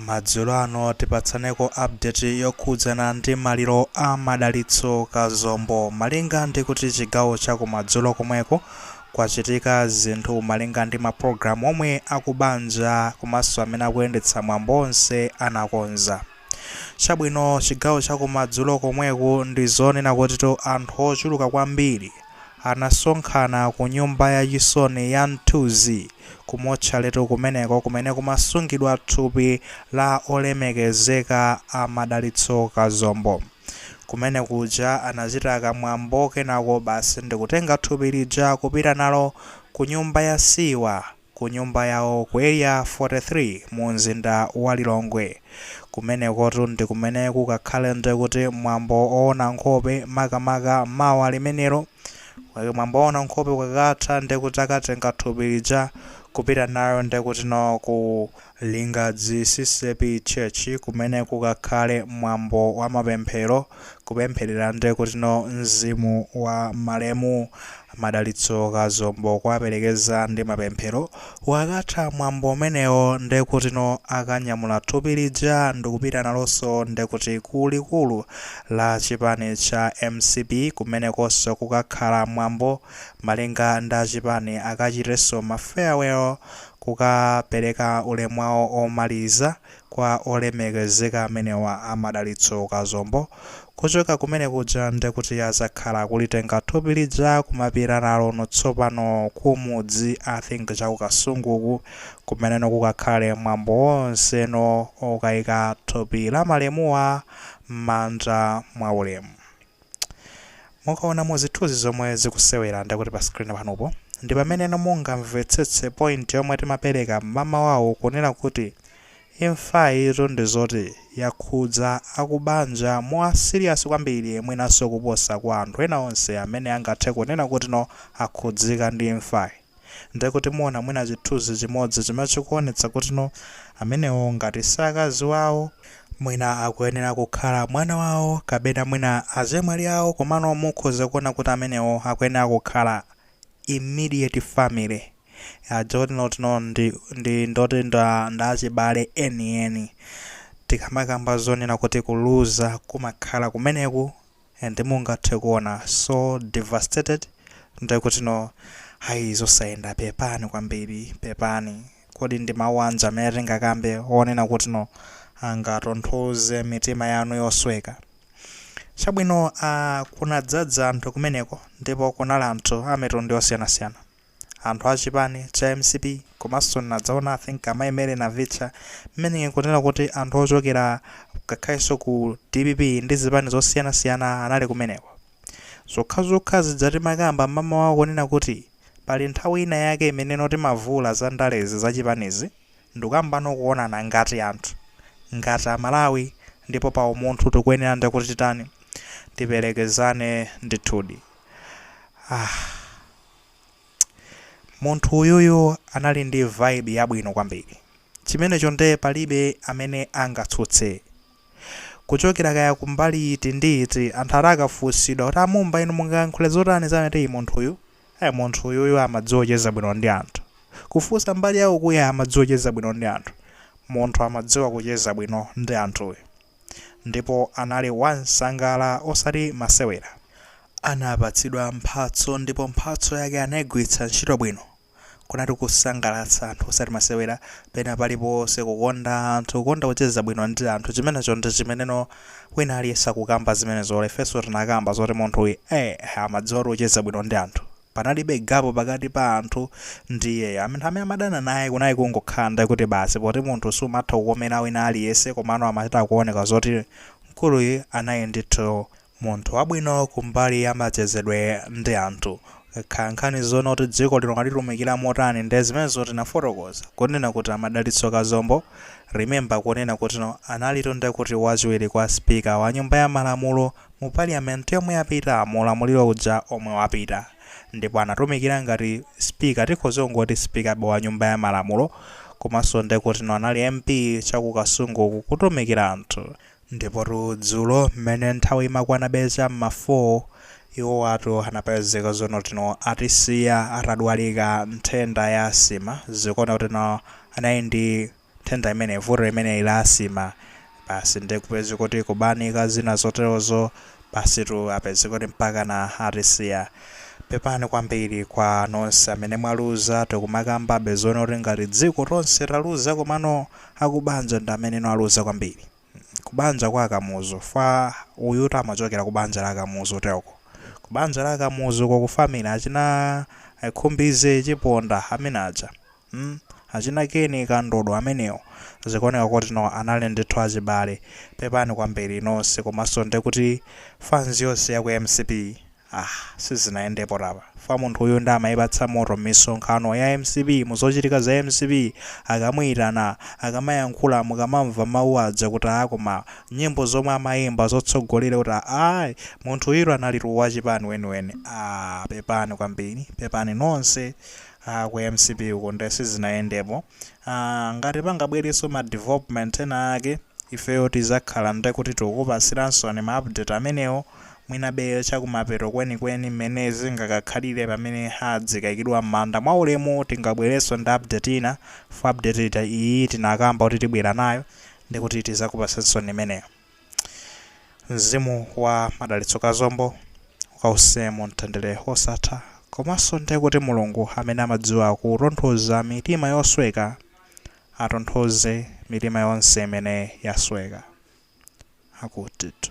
Madzulo ano tipatsaneko update yokhudzana ndi maliro a Madalitso Kazombo. Malinga ndi kuti chigawo cha kumadzulo komweko kwachitika zinthu malinga ndi mapulogalamu omwe akubanja komanso amene akuyendetsa mwambo onse anakonza. Chabwino, chigawo cha kumadzulo komweku ndi zonena kutitu anthu ochuluka kwambiri. anasonkhana ku nyumba ya chisoni ya Mthunzi, ku motchaletu kumeneko kumene kumasungidwa thupi la olemekezeka a Madalitso Kazombo. Kumene kuja anachita ka mwambo kenako basi ndikutenga thupi lija kupita nalo ku nyumba ya siwa. ku nyumba yawo ku Area 43 mu mzinda wa Lilongwe. Kumenekotu ndi kumene kukakhale ndi kuti mwambo owona nkhope makamaka mawa limenelo. Mwambo owona nkhope ukakatha ndi kuti akatenga thupi lija kupita nalo ndi kutino ku Lingadzi ccap church kumene kukakhale mwambo wa mapemphero kupempherera nde kutino mzimu wa malemu madalitso kazombo kuwaperekeza ndi mapemphero ukakatha mwambo umenewo nde kutino akanyamula thupi lija ndikupita naloso nde kuti ku likulu la chipani cha mcp kumenekoso kukakhala mwambo malinga ndi chipani akachiteso ma farewell kukapereka ulemu wawo omaliza kwa olemekezeka amenewa a Madalitso Kazombo, kuchoka kumene kuja ndekuti azakhala akulitenga thupi lija kumapita nalo no tsopano ku mudzi I think chaku Kasungu uku kumene no kukakhale mwambo wonse no okaika thupi la malemuwa mmanda mwa ulemu. Mukaona mu zithuzi zomwe zikusewera ndekuti pa screen panupo, ndi pameneno mungamvetsetse point yomwe timapereka mmamawawu kunena kuti imfayitu ndi zoti yakhudza akubanja mwa serious kwambiri mwinanso kuposa kwa anthu ena onse amene angathe kunena kuti no akhudzika ndi imfayi. Ndiye kuti muona mwina chithunzi chimodzi chimene chikuonetsa kuti no amenewo ngati si akazi wawo, mwina akuyenera kukhala mwana wawo kapena mwina azemwali awo komano mukhoza kuona kuti amenewo akuyenera kukhala immediate family aja oti no kuti no ndi ndi ndoti nda nda achibale enieni. Tikamakamba zonena kuti kuluza kumakhala kumeneku and mungathe kuona so devastated nde kuti no ayi zosayenda pepani kwambiri pepani kodi ndi mawu anji amene tingakambe onena kuti no angatonthoze mitima yanu yosweka chabwino ah kunadzadza anthu kumeneko ndipo kunali anthu amitundu yosiyanasiyana anthu a chipani Cha mcp komanso ndinaonanso I think amai Mary Navitcha meaning kunena kuti anthu ochokera ngakhalenso ku dpp ndi zipani zosiyana siyana anali kumeneko. Zokhazokha zija timakamba mmamawa kunena kuti pali nthawi ina yake imeneno timavula za ndalezi, za chipanizi ndikukambano kuonana ngati anthu, ngati a Malawi ndipo pa umunthu tikuyenera nde kuti titani tiperekezane ndithudi. Ah. Munthu uyuyu anali ndi vibe yabwino kwambiri. Chimenecho nde palibe amene angatsutse. Kuchokera kaya ku mbali iti ndi iti, anthu atakafunsidwa kuti a Mumba inu mungayankhule zotani za ameneyu munthuyu? Ai munthu uyuyu amadziwa kucheza bwino ndi anthu. Kufunsa mbali ya ukuya amadziwa kucheza bwino ndi anthu. Munthu amadziwa kucheza bwino ndi anthu uyu. Ndipo anali wansangala osati masewera. Anapatsidwa mphatso ndipo mphatso yake anaigwiritsa ntchito bwino. Kunkhani ya kusangalatsa anthu osati masewera. Pena paliponse kukonda anthu, kukonda kucheza bwino ndi anthu chimenecho ndi chimeneno wina aliyense akukamba zimenezo or ifenso tinakamba zoti munthuyu eeh amadziwatu kucheza bwino ndi anthu. Panalibe gap pakati pa anthu ndi iyeyo. Anthu amene amadana naye kunali kungokhala nde kuti basi poti munthu sumatha kukomera wina aliyense komano amachita kuoneka zoti mkuluyu anali ndithu munthu wabwino kumbali ya machezedwe ndi anthu. Ikakhala nkhani zonena kuti dziko lino walitumikira motani nde zimenezo tinafotokoza. Kunena kuti a Madalitso Kazombo, remember kunena kuti no analitu nde kuti wachiwiri kwa speaker wa nyumba ya malamulo mu parliament yomwe yapita mu ulamuliro uja omwe wapita ndipo anatumikira ngati speaker tikhoze kungoti speaker be wa nyumba ya malamulo komanso ndekuti no anali MP cha ku kasungu uku kutumikira anthu ndipotu dzulo mmene nthawi imakwana be cha mma 4 iwowatu anapezeka zonena kuti no atisiya atadwalika nthenda ya asima zikuoneka kuti no anali ndi nthenda imeneyi, vuto limeneli la asima, basi nde kupezeka kuti kubanika zina zoterozo, basitu apezeka kuti mpakana atisiya. Pepani kwambiri kwa nonse amene mwaluza, tikumakambabe zonena kuti ngati dziko tonse taluza komano akubanja ndi ameneno aluza kwambiri. Kubanja kwa Kamuzu, pfa uyutu amachokera kubanja la Kamuzu teloko. Kubanja la Kamuzu uko ku family achina Khumbize, Chiponda, amene aja. mm achina ken kandodo amenewo zikuoneka kuti no anali ndithu achibale pepani kwambili nonse komanso ndekuti fanzi yonse ya ku mcp ah sizinayendepo apa chifukwa munthu uyu ndi amayipatsa moto mmisonkhano ya mcp muzochitika za mcp akamuyitana akamayankhula mukamamva mawu aja kuti aa koma nyimbo zomwe amayimba zotsogolera kuti aa munthu uyitu analitu wachipani weniweni ah pepani kwambili pepani nonse Aaa ku mcp uko nde sizinayendepo aah ngati pangabwereso ma development ena ake ifeyo tizakhala nde kuti tikupasilansoni ma update amenewo mwinabe chakumapeto kwenikweni mmene zingakakhalire pamene adzikaikidwa mmanda mwaulemu tingabwereso ndi update ina chifukwa update iyi tinakamba kuti tibwera nayo ndekuti tizakupasansoni imeneyo. mzimu wa madalitso kazombo ukawuse mu mtendere wosatha komanso ndi kuti mulungu amene amadziwa kutonthoza mitima yosweka atonthoze mitima yonse imene yasweka akutitu